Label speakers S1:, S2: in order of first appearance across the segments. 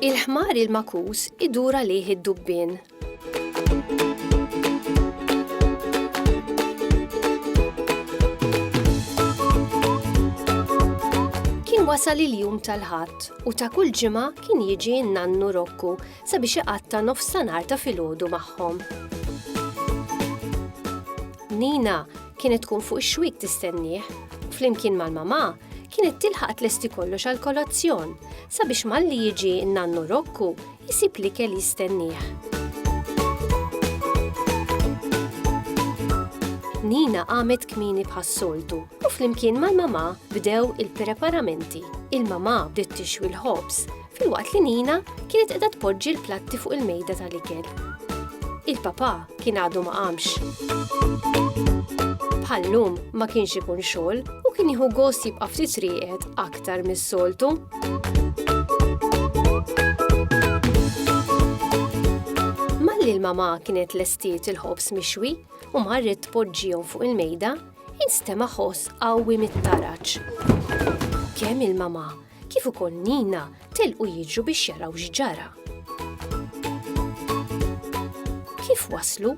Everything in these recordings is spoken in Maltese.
S1: Il-ħmar il-makus idur għalih id-dubbien. Kien wasal il-jum tal-ħadd u ta' kull ġimgħa kien jiġi n-nannu Rokku sabiex iqatta' nofsanhar ta' filgħodu magħhom. Nina kienet tkun fuq ix-xwiek tistennieh. Flimkien mal-mamà, kienet tilħaq tlesti kollox għal kolazzjon sabiex malli jiġi n-nannu Rokku jisib li kell jistennieh. Nina qamet kmini bħas-soltu u flimkien mal-mamà bdew il-preparamenti. Il-mamà bdiet tixwi l-ħobż filwaqt li Nina kienet qiegħda tpoġġi l-platti fuq il-mejda tal-ikel. Il-papà kien għadu ma qamx. Bħallum ma kienx ikun xogħol u kien jieħu gost jibqa' ftit rieqed aktar mis-soltu. Malli l-mamà kienet lestiet il-ħobs mixwi u marret tpoġġihom fuq il-mejda, instema' ħoss qawwi mit-taraġ. Kemm il-mamà kif ukoll Nina telqu jiġru biex jaraw x'ġara. Kif waslu,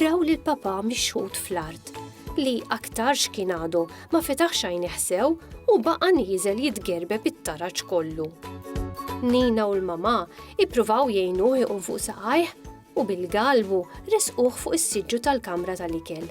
S1: raw lil papà mixħut fl-art li aktarx kien għadu ma fetaħx għajnih sew u baqa' nieżel jitgerbeb it-taraġ kollu. Nina u l-mamà ippruvaw jgħinuh iqum fuq saqajh, u bil-galvu ressquh fuq is-siġġu tal-kamra tal-ikel.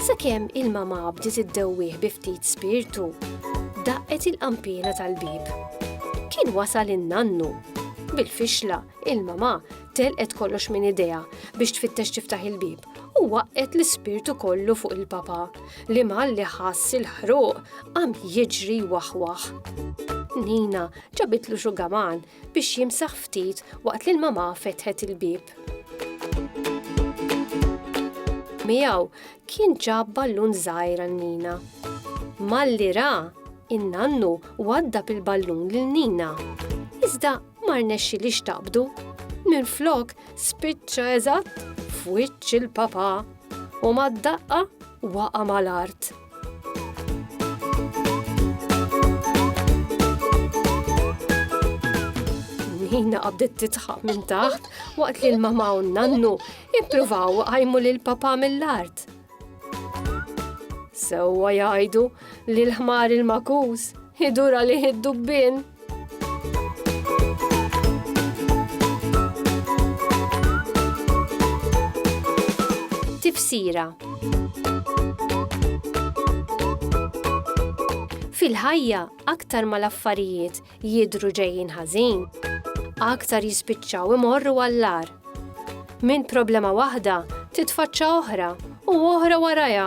S1: Sakemm il-mamà bdiet iddewwih bi ftit spirtu, daqqet il-qanpiena tal-bieb. Kien wasal in-nannu. Bil-fixla, il-mamà telqet kollox minn idejha biex tfittex tiftaħ il-bieb u waqqgħet l-ispirtu kollu fuq il-papà li malli ħass il-ħruq qam jiġri jwaħwaħ. Nina Ġabitlu xugaman biex jimsaħ ftit waqt li l-mamà fetħet il-bieb. Miegħu kien ġab ballun żgħir għal Nina. Malli ra, in-nannu waddab il-ballun lil Nina. Iżda ma rnexxi li xtaqbdu. Minn flok spiċċa eżatt f'wiċċ il-papà u mad-daqqa waqa' mal-art. Nina qabdet titħaq minn taħt waqt li l-mama u nannu ippruvaw għajmu lil papa mill-art. Sewwa jgħidu li l-ħmar il-makus idura li id-dubbin. Tifsira Fil-ħajja, aktar ma l-affarijiet jidru ġejjin ħażin, aktar jispiċċaw imorru għallar. Minn problema waħda titfaċċa oħra u oħra warajha